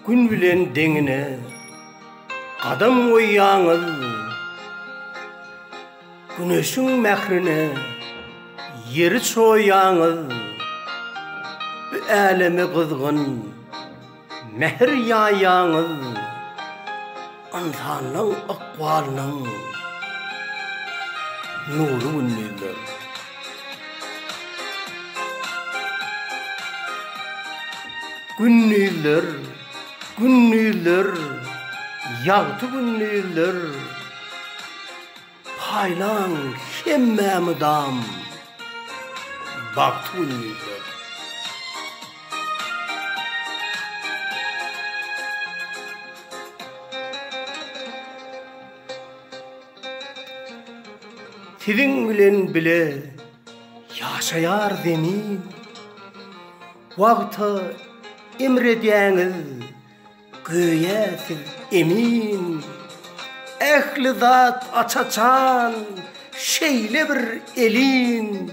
Gün bilen deňine gadam goýýaňyz Güneşiň mährine ýeri çoýýaňyz Bu äleme gyzgyn Mähir ýaýýaňyz ynsanyň ykbalynyň nury gündizler. Gündizler, gündizler, ýagty gündizler. Paýlaň hemmä mydam bagty gündizler. Siziň bilen bile ýaşaýar Zemin. Wagta emredýäňiz. Göýä siz emin, ähli zat aç-açan, şeýle bir elin.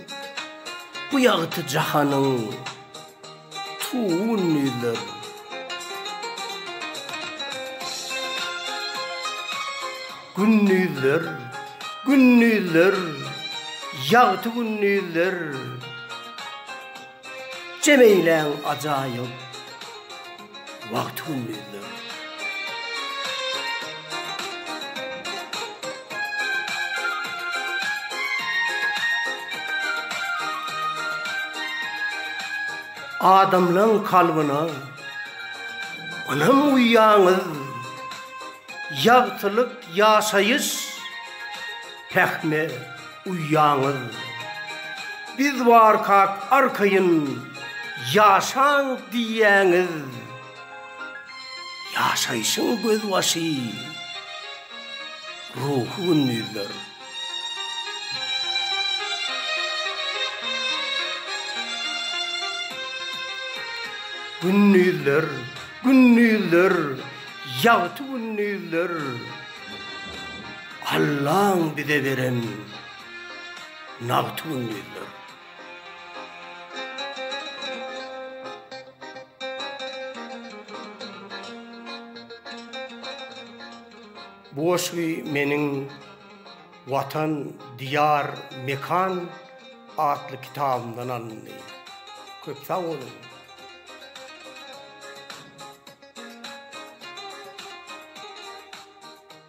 Bu ýagty jahanyň tugun ýüzler. Gündizler, gündizler, ýagty gündizler. Jemeyläň ajaýyp wagty-gündizleri. Adamlaň kalbyna ynam guýýaňyz, ýagtylyk, ýaşaýyş, pähime. Uýaňyz biz barkak arkaýyn ýaşaň diýýäňiz. Ýaşaýşyň gözbaşy ruhy gündizler. Gündizler, gündizler, ýagty gündizler. Allaň bize beren nagt gündizler. Bu goşgy meniň Watan, Diýar, Mekan atly kitabymdan alyndy. Köp sag boluň!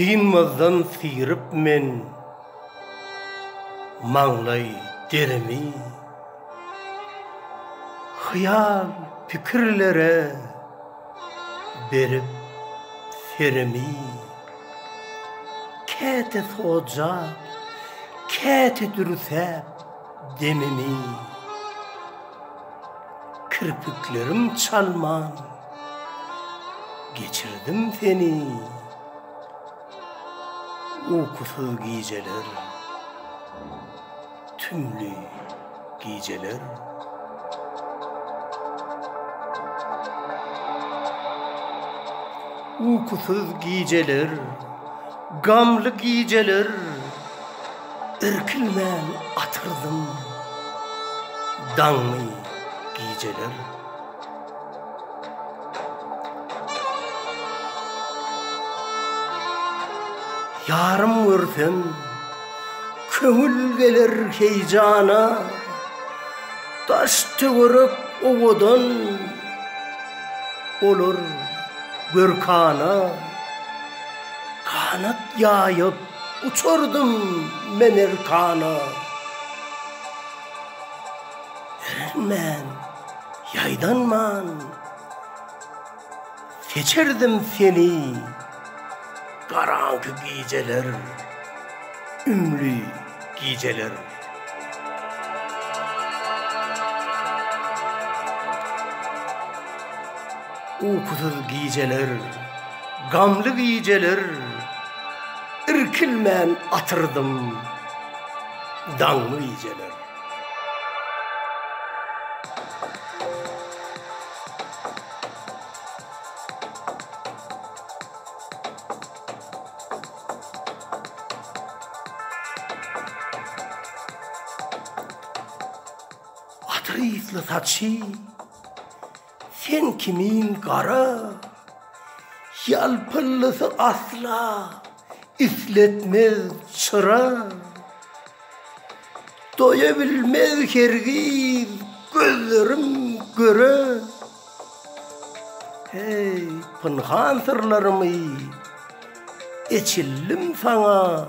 Synmazdan syryp men maňlaý derimi, Hyýal pikirlere. berip serimi Käte soja, käte dürsäp demimi Kirpiklerim çalman geçirdim seni Ukusyz gijeler Tümli gijeler. Ukusyz gijeler. Gamly gijeler. Irkilmän atyrdym. Daňly gijeler. Yarym görsem Köňül geler heýjana, daş-töwerek owadan, Olar görkana, ganat ýaýyp, uçardym men ertana. Erinmän, ýaýdanman. Seçerdim seni garaňky gijeler, ümli gijeler. Ukusyz gijeler, gamly gijeler, irkilmän atyrdym daňly gijeler. Atrysly saçy sen kimin gara, ýalpyllysy asla Isletmez çyra, doýa bilmez hergiz gözlerim göre. Heý, pynhan syrlarymy eçildim saňa.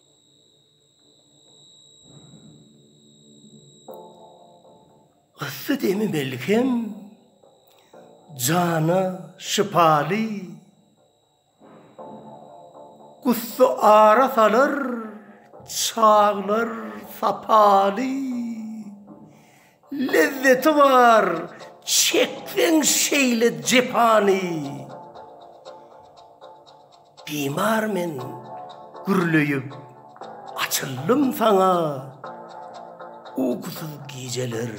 Yssy demi melhem, jana şypaly, Gussa ara salar, çaglar sapaly. Lezzeti bar çekseň şeýle jepany Bimar men gürleýip açyldym saňa Ukusyz gijeler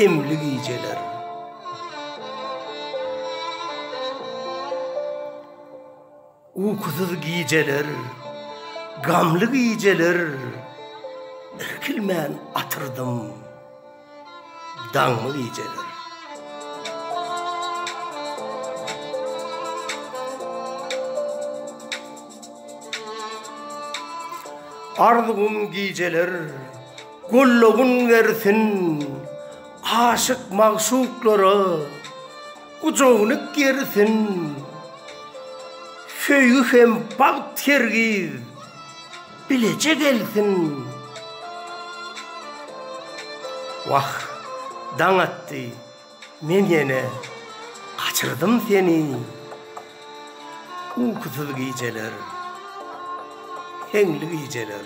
emli gijeler Ukusyz gijeler, gamly gijeler Irkilmän atyrdym daňly gijeler. Arzuwym gijeler gollagyn bersin aşyk magşuklara. Gujagynyk gerisin Söýgi hem bagt hergiz Bileje gelsin Wah daň atdy Men ýene Gaçyrdym seni Ukusyz gijeler Heňli gijeler.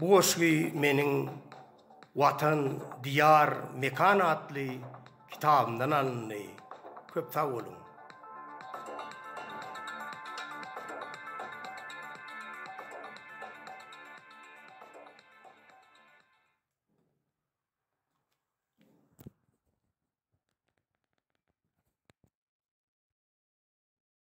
Bu goşgy meniň Watan, Diýar, Mekan atly kitabymdan alyndy. Köp sag boluň!